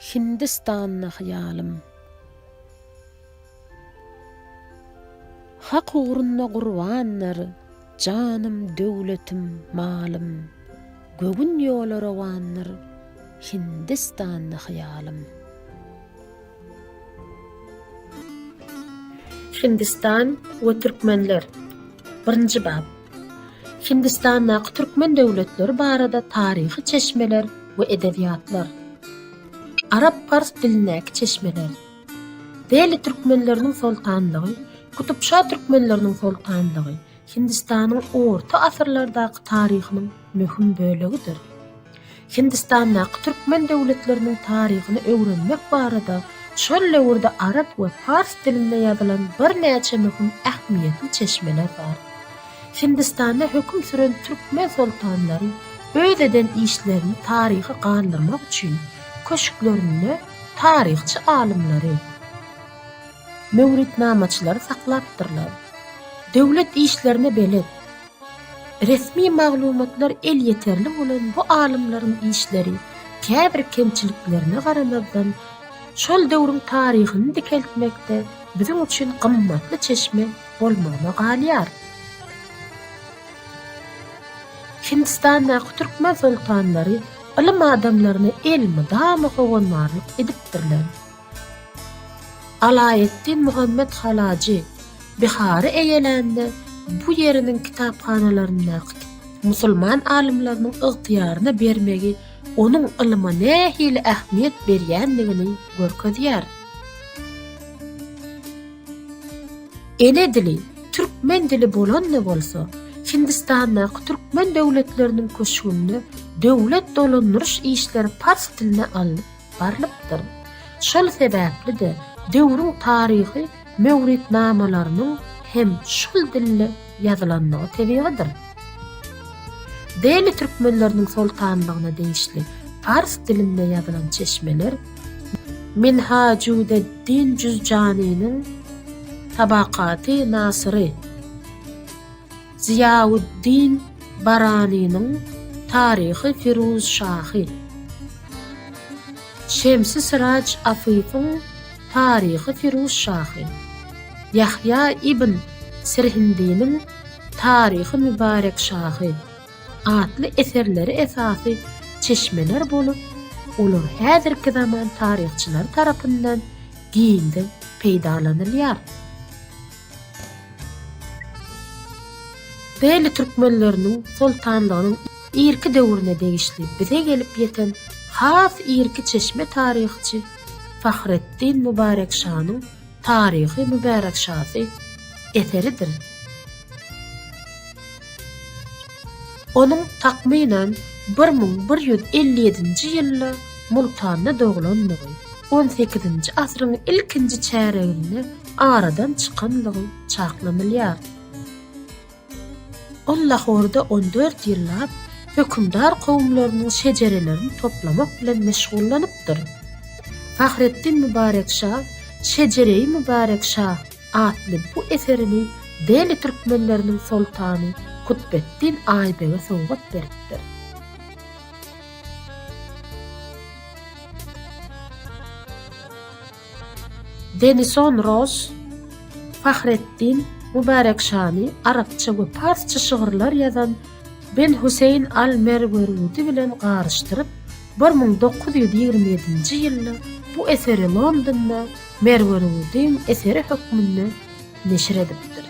Hindistanda hyýalym. Hak ugrunda gurbandyr janym döwletim malym Gögün ýola rowandyr Hindistanda hyýalym. Hindistan we türkmenler. Birinji bap. Hindistandaky türkmen döwletleri barada taryhy çeşmeler we edebiýatlar. Arap-pars dilindäki çeşmeler. Deli türkmenleriniň soltanlygy, Kutupşa türkmenleriniň soltanlygy. Hindistanyň orta asyrlardaky taryhynyň möhüm bölegidir. Hindistandaky türkmen döwletleriniň taryhyny öwrenmek barada şol döwürde arap we pars dilinde ýazylan birnäçe möhüm ähmiýetli çeşmeler bar. Hindistanda höküm süren türkmen soltanlary öz eden işlerini taryha galdyrmak üçin köşklerinde taryhçy alymlary, Möwritnamaçylary saklapdyrlar. Döwlet işlerine belet. Resmi maglumatlar elýeterli bolan bu alymlaryň işleri käbir kemçiliklerine garamazdan, şol döwrüň taryhyny dikeltmekde biziň üçin gymmatly çeşme bolmagyna galýar. Hindistandaky türkmen soltanlary ylym adamlaryna elmydama howandarlyk edipdirler. Alaeddin Muhammet Halajy Bihary eýelände bu ýeriniň kitaphanalaryndaky musulman alymlarynyň ygtyýaryna bermegi onuň ylma nähili ähmiýet berýändigini görkezýär. Ene dili türkmen dili bolanda bolsa, Hindistandaky türkmen döwletleriniň köşgünde döwlet dolandyryş işleri pars diline alnyp, barylypdyr. Şol sebäpli-de, döwrüň taryhy möwritnamalarynyň hem şol dilde ýazylandygy tebigydyr. Deli türkmenleriniň soltanlygyna degişli pars dilinde ýazylan çeşmeler Minhajudeddin Jüzjanynyň Tabakaty Nasyry, Zyýauddin Baranynyň Taryhy Firuzşahy, Şemsi Syraç Afyfyň Taryhy Firuzşahy, Ýahýa ibn Sirhindiniň Taryhy Mübarekşahy atly eserleri esasy çeşmeler bolup, olar häzirki zaman taryhçylary tarapyndan giňden peýdalanylýar. Bely türkmenleriniň soltanlygynyň irki döwrüne degişli bize gelip ýeten has irki çeşme taryhçy Fahreddin Mübarek şanyň Taryhy Mübärek şasy eseridir. Onuň takmynan bir müň bir ýüz elli ýedinji ýylda Multanda doglandygy, on sekizinji asyryň ilkinji çäreginde aradan çykanlygy çaklanylýar. Ol Lahorda on dört ýyllap hökümdar kowumlarynyň şejerelerini toplamak bilen meşgullanypdyr. Fahreddin Mübarek şa Şejereýi Mübarek şa atly bu eserini Deli türkmenleriniň soltany Kutbeddin Aýbege sowgat beripdir. Denison Ross, Fahrettin, Mubarek Şani, arapça we parsça şygyrlar ýazan Ben Huseýn al-Merwerudi bilen garyşdyryp, bir müň dokuz ýüz ýigrimi ýedinji ýylda bu eseri Londonda Merwerudyň eseri hökmünde neşir edipdir.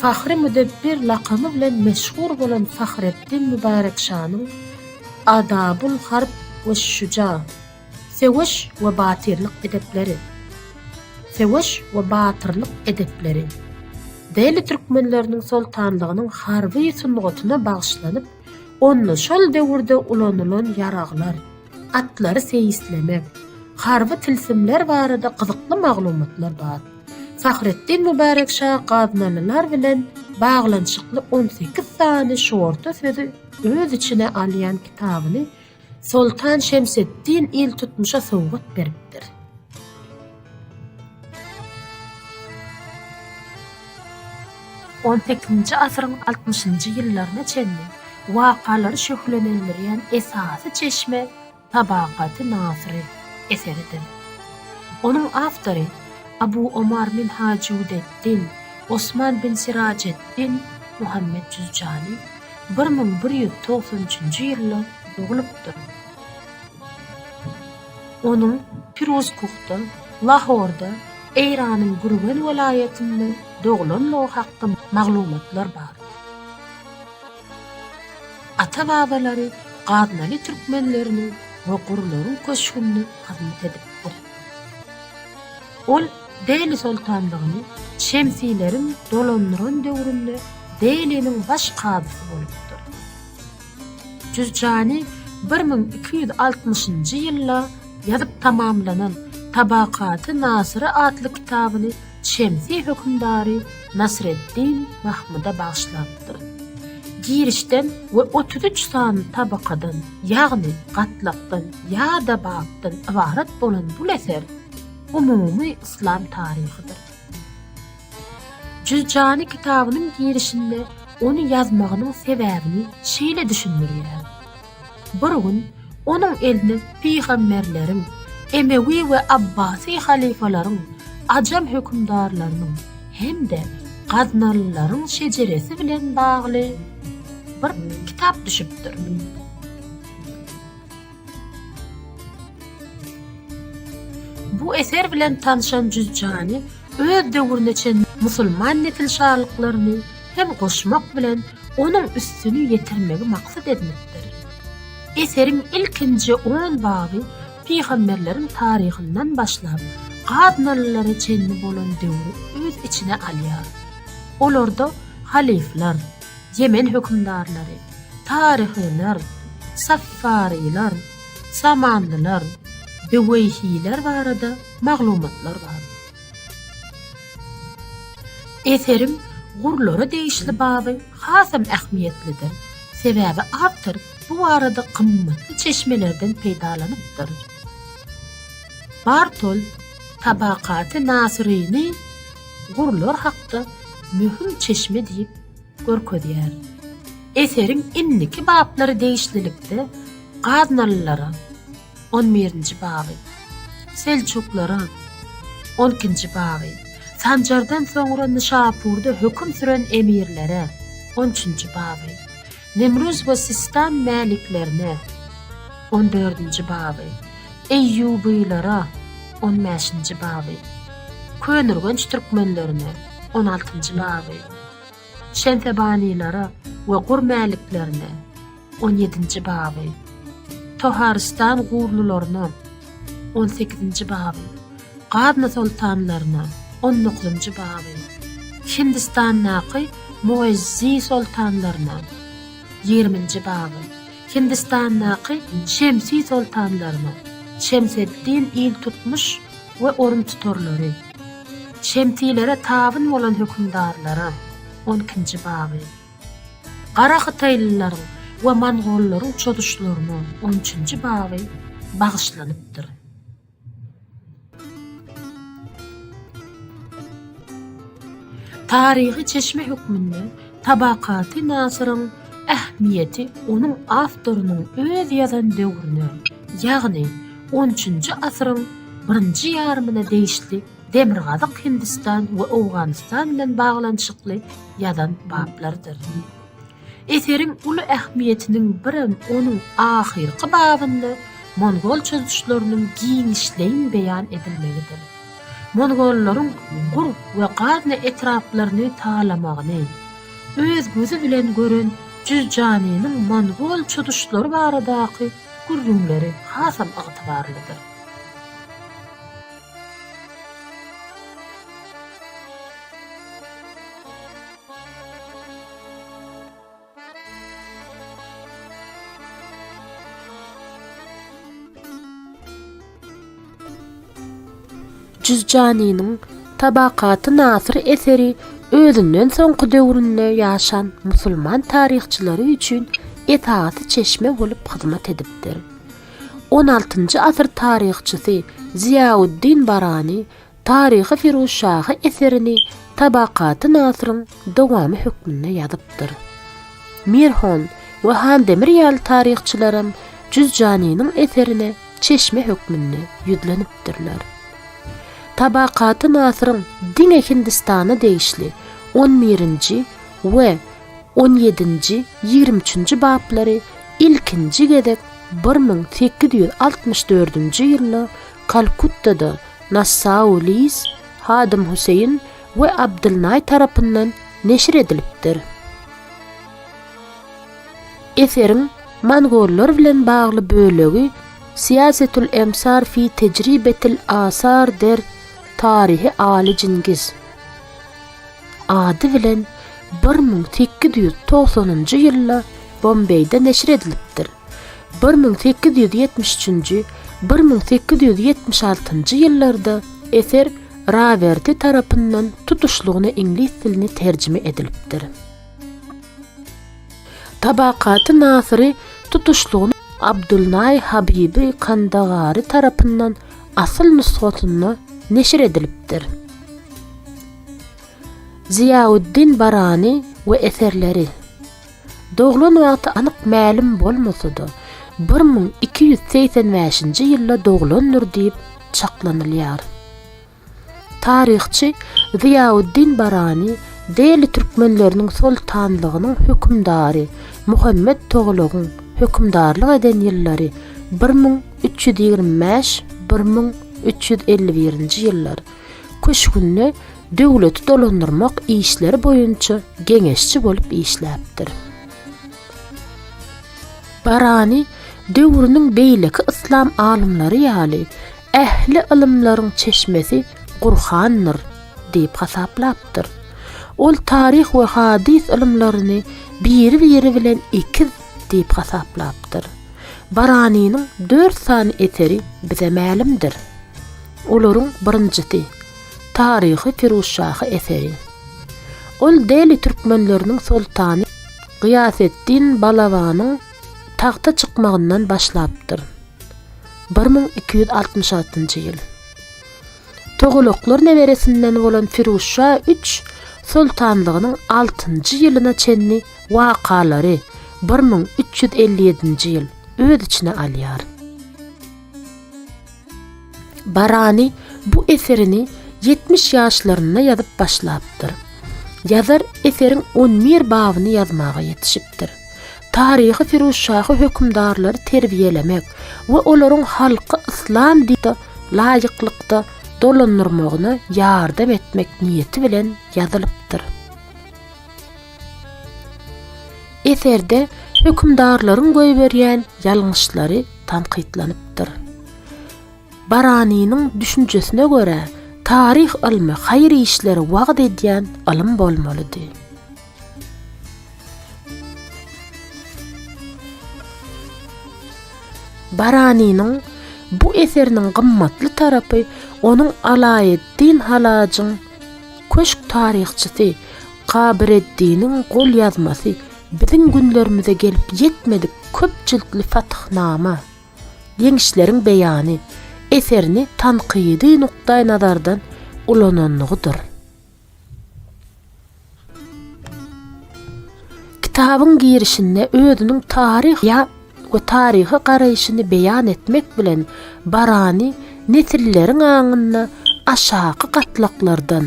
Fahri Müdebbir lakamy bilen meşhur bolan Fahreddin Mübärek şanyň Adabul harb we şüja, Söweş we batyrlyk edepleri, Söweş we batyrlyk edepleri, Deli türkmenleriniň soltanlygynyň harby sungatyna bagyşlanyp, onda şol döwürde ulanylan ýaraglar, atlary seýislemek, harby tilsimler barada gyzykly maglumatlar bar. Fahretdin Mübärek şa gaznalylar bilen baglanyşykly on sekiz sany şorta sözi öz içine alýan kitabyny Soltan Şemseddin iltutmuşa sowgat beripdir. On sekizinji asyryň altmyşynjy ýyllaryna çenli wakalary şöhlelendirýän esasy çeşme Tabakaty Nasyry eseridir. Onuň awtory Abu Omar Minhajüd-ed-din Osman bin Sirajeddin Muhammet Jüzjani bir müň bir ýüz togsan üçünji ýylda doglupdyr. Onuň Piruzkuhda, Lahorda, Eýranyň Gürgen welaýatynda doglanlygy hakda maglumatlar bar. Ata-babalary gaznaly türkmenleriniň we gurlaryň köşgünde hyzmat edipdir. Ol Dehli soltanlygyny Şemsileriň dolandyran döwründe Dehliniň baş kazysy bolupdyr. Jürjani bir müň iki ýüz altmyşynjy ýylda ýazyp tamamlanan Tabakaty Nasyry atly kitabyny Şemsi hökümdary Nasreddin Mahmyda bagyşlapdyr. Girişden we otuz üç sany tabakadan, ýagny gatlakdan ýa-da bapdan ybarat bolan bul eser umumy yslam taryhydyr. Jüzjani kitabynyň girişinde ony ýazmagynyň sebäbini şeýle düşündirýär. Bir gün onuň eline pygamberleriň, emewi we abbasy halyfalaryň, ajam hökümdarlarynyň hem-de gaznalylaryň şejeresi bilen bagly bir kitap düşüpdir. Bu eser bilen tanşan Jüzjany öz döwrüne çenli musulman nesilşalyklaryny hem goşmak bilen onuň üstüni ýetirmegi maksat edinipdir. Eseriň ilkinji on baby pygamberleriň taryhyndan başlap, gaznalylara çenli bolan döwri öz içine alýar. Olarda halyflar, Ýemen hökümdarlary, taryhylar, saffarylar, samanlylar, büweýhiler barada maglumatlar bar. Eseriň gurlara degişli baby hasam ähmiýetlidir, sebäbi awtor bu barada gymmatly çeşmelerden peýdalanypdyr. Bartol Tabakaty Nasyryny gurlar hakda möhüm çeşme diýip görkezýär. Eseriň indiki bablary degişlilikde gaznalylara, On birinji baby. Selçuklaryň On ikinji baby. Sanjardan soňra Nyşapurda höküm süren emirlere On üçünji baby. Nemruz we Sistan mäliklerine On dördünji baby. Eýýubylara On bäşinji baby. Könürgenç türkmenlerine On altynjy baby. Şemsebanylara we Gur mäliklerine. On ýedinji baby. Toharystan gurlylaryna. On sekizinji baby. Gazna soltanlaryna. On dokuzynjy baby. Hindistandaky Muezzi soltanlaryna. Ýigriminji baby. Hindistandaky Şemsi soltanlaryna. Şemseddin iltutmuş we oruntutarlary. Şemsilere tabyn bolan hökümdarlara. On ikinji baby. Gara hytaýlylaryň we mongollaryň çozuşlaryna on üçünji baby bagyşlanypdyr. Taryhy çeşme hökmünde Tabakaty Nasyryň ähmiýeti onuň awtorynyň öz ýazan döwrüne, ýagny on üçünji asyryň birinji ýarymyna degişli Demirgazyk Hindistan we Owganystan bilen baglanyşykly ýazan baplardyr. Eseriň uly ähmiýetiniň birem onuň ahyrky babynda mongol çozuşlarynyň giňişleýin beýan edilmegidir. Mongollaryň Gur we Gazne etraplaryny talamagyny öz gözi bilen gören Jüzjanynyň mongol çozuşlary baradaky gürrüňleri hasam ygtybarlydyr. Jüzjanynyň Tabakaty-Nasyr eseri özünden soňky döwründe ýaşan musulman taryhçylary üçin esasy çeşme bolup hyzmat edipdir. On altynjy asyr taryhçysy Ziýauddin Barani Taryhy Firuzşahy eserini Tabakaty Nasyryň dowamy hökmünde ýazypdyr. Mirhon we Handemir ýaly taryhçylaram Jüzjanynyň eserine çeşme hökmünde ýüzlenipdirler. Tabakaty Nasyryň diňe Hindistana degişli on birinji we On ýedinji, ýigrimi üçünji baplary ilkinji gezek bir müň sekiz ýüz altmyş dördünji ýylda Kalkuttada Nassau Liz, Hadym Huseýin we Abdylnaý tarapyndan neşir edilipdir. Eseriň mongollar bilen bagly bölegi Siýasetül emsar fi tejribetil asar der Taryhy Aly Jingiz. ady bilen bir müň sekiz ýüz togsanynjy ýylda Bombeýde neşir edilipdir. Bir müň sekiz ýüz ýetmiş üçünji, bir müň sekiz ýüz ýetmiş altynjy ýyllarda eser Rawerti tarapyndan tutuşlygyna iňlis diline terjime edilipdir. Tabakaty Nasyry tutuşlygyna Abdulnaý Habibi Kandagary tarapyndan asyl nusgasynda neşir edilipdir. Zyýaweddin Barany we eserleri. Doglan wagty anyk mälim bolmasa-da, bir müň iki ýüz segsen bäşinji ýylda doglandyr diýip çaklanylýar. Taryhçy Zyýauddin Barani Deli türkmenleriniň soltanlygynyň hökümdary Muhammet Toglagyň hökümdarlyk eden ýyllary bir müň üç ýüz ýigrimi bäş, bir müň üç ýüz elli birinji ýyllar, köşgünde döwleti dolandyrmak işleri boýunça geňeşçi bolup işläpdir. Barani döwrüniň beýleki yslam alymlary ýaly, Ähli ylymlaryň çeşmesi Gurhandyr diýip hasaplapdyr. Ol taryh we hadys ylymlaryny biri-biri bilen ekiz diýip hasaplapdyr. Baranynyň dört sany eseri bize mälimdir. Olaryň birinjisi, Taryhy Firuzşahy eseri. Ol Deli türkmenleriniň soltany Gyýaseddin Balabanyň Tagta çykmagyndan başlapdyr. Bir müň iki ýüz altmyş altynjy ýyl. Togalaklar neberesinden bolan Firuzşa üç soltanlygynyň altynjy ýylyna çenli wakalary, bir müň üç ýüz elli ýedinji ýyl, öz içine alýar. Barani bu eserini ýetmiş ýaşlarynda ýazyp başlapdyr. Ýazar eseriň on bir babyny ýazmaga ýetişipdir. Taryhy Firuzşahy hökümdarlary terbiýelemek we olaryň halky yslam dinine laýyklykda dolandyrmagyna ýardam etmek niýeti bilen ýazylypdyr. Eserde hökümdarlaryň goýberýän ýalňyşlary tankytlanypdyr. Baranynyň düşünjesine görä, taryh ylmy haýyr işleri wagyz edýän ylym bolmalydy. Baranynyň bu eseriniň gymmatly tarapy onuň Alaeddin Halajyň Köşk taryhçysy Gabyreddiniň golýazmasy biziň günlerimize gelip ýetmedik köp jiltli Fatyhnama, Ýeňişleriň beýany, eserini tankydy nukdaýnazardan ulanandygydyr. Kitabyň girişinde özüniň taryh ýa we taryha garaýşyny beýan etmek bilen Barani nesilleriň aňynda aşaky gatlaklardan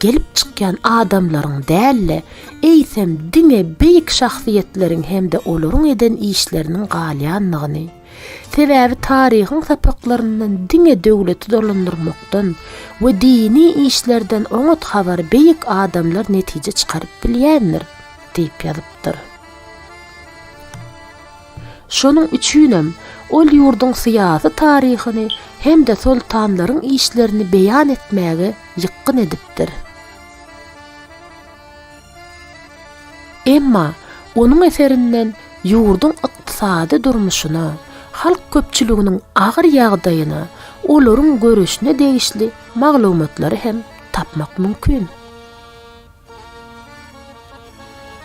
gelip çykýan adamlaryň däl-de, eýsem diňe beýik şahsyýetleriň hem-de olaryň eden işleriniň galýandygyny, Sebäbi taryhyň sapaklaryndan diňe döwleti dolandyrmakdan we dini işlerden oňat habary beýik adamlar netije çykaryp bilýändir diýip ýazypdyr. Şonuň üçinem ol ýurduň syýasy taryhyny hem-de soltanlaryň işlerini beýan etmäge ýykgyn edipdir. Emma onuň eserinden ýurduň ykdysady durmuşyna, halk köpçüliginiň agyr ýagdaýyna, olaryň göreşine degişli maglumatlary hem tapmak mümkin.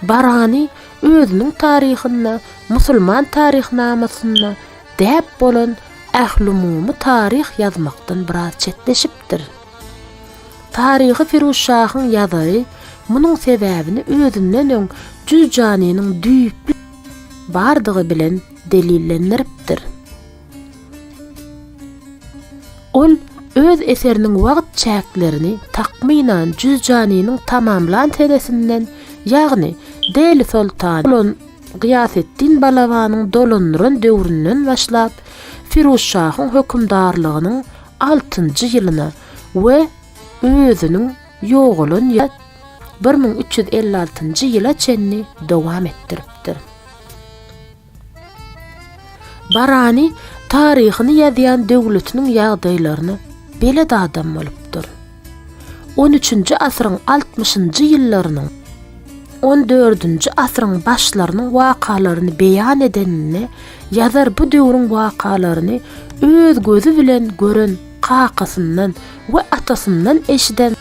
Barani özüniň taryhynda Musulman taryhnamasynda däp bolan ählumumy taryh ýazmakdan biraz çetleşipdir. Taryhy Firuzşahyň ýazary munuň sebäbini özünden öň jüz janynyň düýpli bardygy bilen delillendiripdir. Ol öz eseriniň wagt çäklerini takmynan jüz janynyň tamamlan senesinden, ýagny Deli soltany bolan Gyýaseddin Balabanyň dolandyran döwründen başlap, Firuzşahyň hökümdarlygynyň altynjy ýylyna we özüniň ýogalan ýa bir müň üç ýüz elli altynjy ýyla çenli dowam etdiripdir. Barani taryhyny ýazýan döwletiniň ýagdaýlaryna belet adam bolupdyr. On üçünji asyryň altmyşynjy ýyllarynyň, on dördünji asyryň başlarynyň wakalaryny beýan edeninde ýazar bu döwrüň wakalaryny öz gözi bilen gören kakasyndan we atasyndan eşiden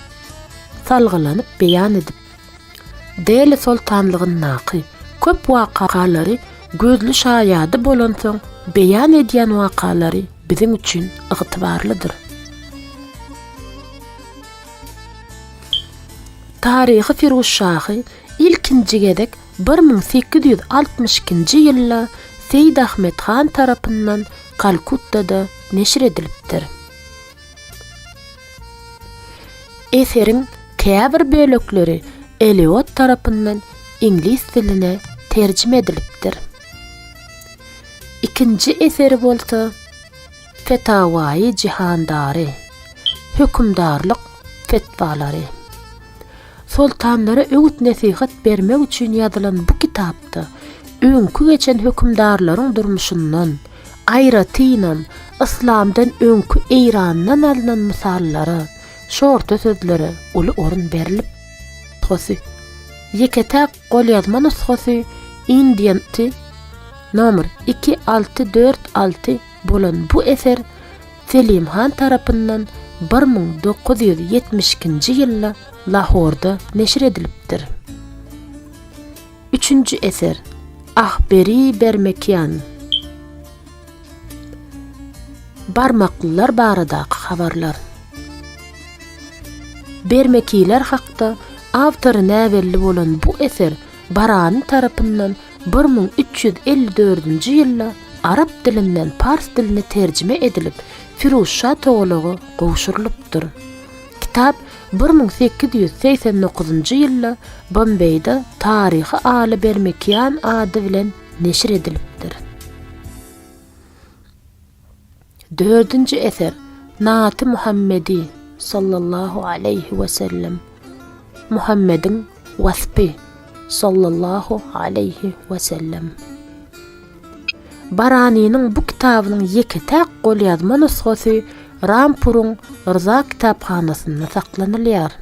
salgylanyp beýan edipdir. Deli soltanlygyndaky köp wakalary gözli şaýady bolansoň beýan edýän wakalary biziň üçin ygtybarlydyr. Taryhy Firuzşahy ilkinji gezek bir müň sekiz ýüz altmyş ikinji ýylda Seýid Ahmet han tarapyndan Kalkuttada neşir edilipdir. Eseriň käbir bölekleri Eliot tarapyndan iňlis diline terjime edilipdir. Ikinji eseri bolsa Fetawai Jihandari, Hökümdarlyk fetwalary. Soltanlara öwüt-nesihat bermek üçin ýazylan bu kitapda öňki geçen hökümdarlaryň durmuşyndan, aýratynam, yslamdan öňki Eýrandan alnan mysallara, şorta sözlere uly orun berlip. Nusgasy, Ýeke-täk golýazma nusgasy Indian Ti, Nomer, iki, alty, dört, alty. bolan bu eser Selim han tarapyndan bir müň dokuz ýüz ýetmiş ikinji ýylda Lahorda neşir edilipdir. Üçünji eser Ahberi Bermekian Barmaklylar baradaky habarlar Bermekiler hakda awtory näbelli bolan bu eser Barani tarapyndan Bir müň üç ýüz elli dördünji ýylda arap dilinden pars diline terjime edilip, Firuzşa Togalaga gowşurylypdyr. Kitap bir müň sekiz ýüz segsen dokuzynjy ýylda Bombeýde taryhy Aly Bermekian ady bilen neşir edilipdir. Dördünji eser, Naty Muhammedi, sallallahu aleýhi we sellem, Muhammediň waspy, sallallahu aleýhi we sellem. Baranynyň bu kitabynyň ýeke-täk golýazma nusgasy Rampuryň Rza kitaphanasynda saklanylýar.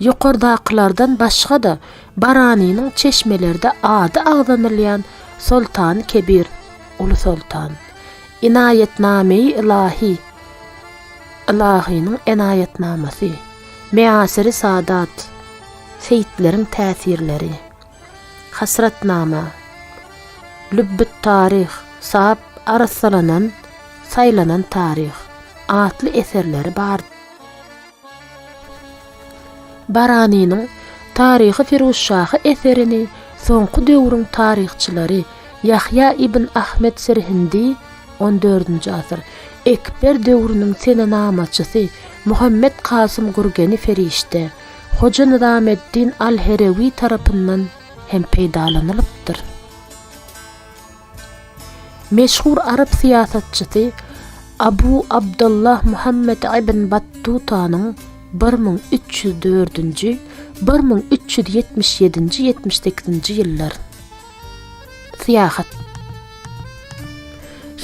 Ýokardakylardan başga-da, Baranynyň çeşmelerde ady agzanylýan Soltany Kebir, Uly Soltan, Inaýetname-i Ylahi, Ylahynyň enaýatnamasy, Measyr-i Saadat, Seýitleriň täsirleri, Hasratnama. Lübbe taryh, sap arassalanan, saýlanan taryh, atly eserleri bar. Baranynyň Taryhy Firuzşahy eserini soňky döwrüň taryhçylary Ýahýa ibn Ahmet Sirhindi, on dördünji asyr, Ekber döwrüniň senenamaçysy Muhammet Kasym Gurgeni Ferişte, Hoja Nyzameddin al-Herewi tarapyndan hem peýdalanylypdyr. Meşhur arap syýasatçysy Abu Abdullah Muhammet ibn Battutanyň bir müň üç ýüz dördünji, bir müň üç ýüz ýetmiş ýedinji ýetmiş sekizinji ýyllar. Syýahat.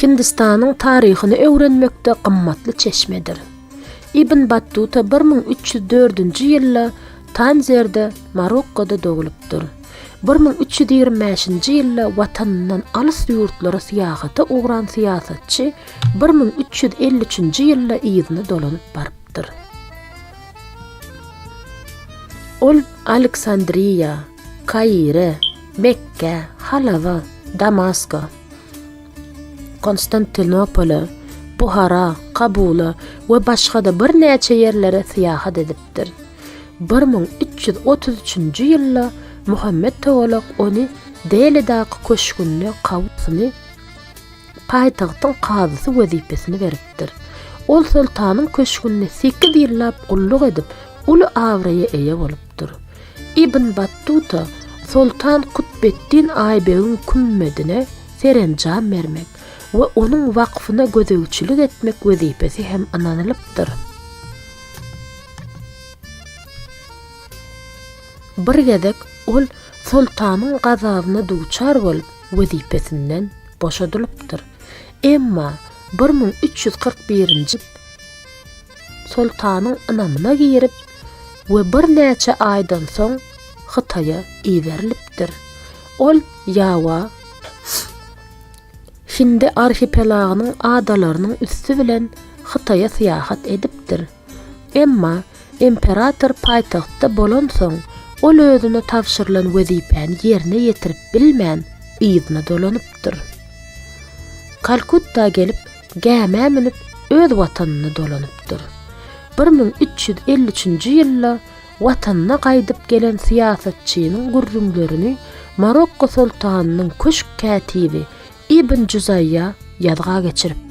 Hindistanyň taryhyny öwrenmekde gymmatly çeşmedir. Ibn Battuta bir müň üç ýüz dördünji ýylda Tanzerde, Marokkoda doglupdyr. Bir müň üç ýüz ýigrimi bäşinji ýylda watanyndan alys ýurtlara syýahata ugran syýasatçy bir müň üç ýüz elli üçünji ýylda yzyna dolanyp barypdyr. Ol Aleksandriýa, Kaire, Mekgä, Halawa, Damaska, Konstantinopola, Buhara, Kabula we başga-da birnäçe ýerlere syýahat edipdir. Bir müň üç ýüz otuz üçünji ýylda Muhammet Togolak ony Delidaky köşgünde kazyny, paýtagtyň kazysy wezipesini beripdir. Ol soltanyň köşgünde sekiz ýyllap gulluk edip, uly abraýa eýe bolupdyr. bolupdyr. Ibn Battuta Soltan Kutbeddin Aýbegiň kümmedine serenjam bermek we onuň wakfyna gözegçilik etmek wezipesi hem ynanylypdyr. Bir gezek ol soltanyň gazabyna duçar bolup, wezipesinden boşadylypdyr. Emma bir müň üç ýüz kyrk birinji. soltanyň ynamyna girip we birnäçe aýdan soň Hytaýa iberilipdir. Ol Ýawa, Hindi arhipelagynyň adalarynyň üsti bilen Hytaýa syýahat edipdir. Emma imperator paýtagtda bolansoň, ol özüne tabşyrylan wezipäni ýerine ýetirip bilmän, yzyna dolanypdyr. Kalkutta gelip, gämä münüp öz watanyna dolanypdyr. Bir müň üç ýüz elli üçünji ýylda watanyna gaýdyp gelen syýasatçynyň gürrüňlerini Marokko soltanynyň köşk kätibi Ibn Juzaýýa ýazga geçiripdir.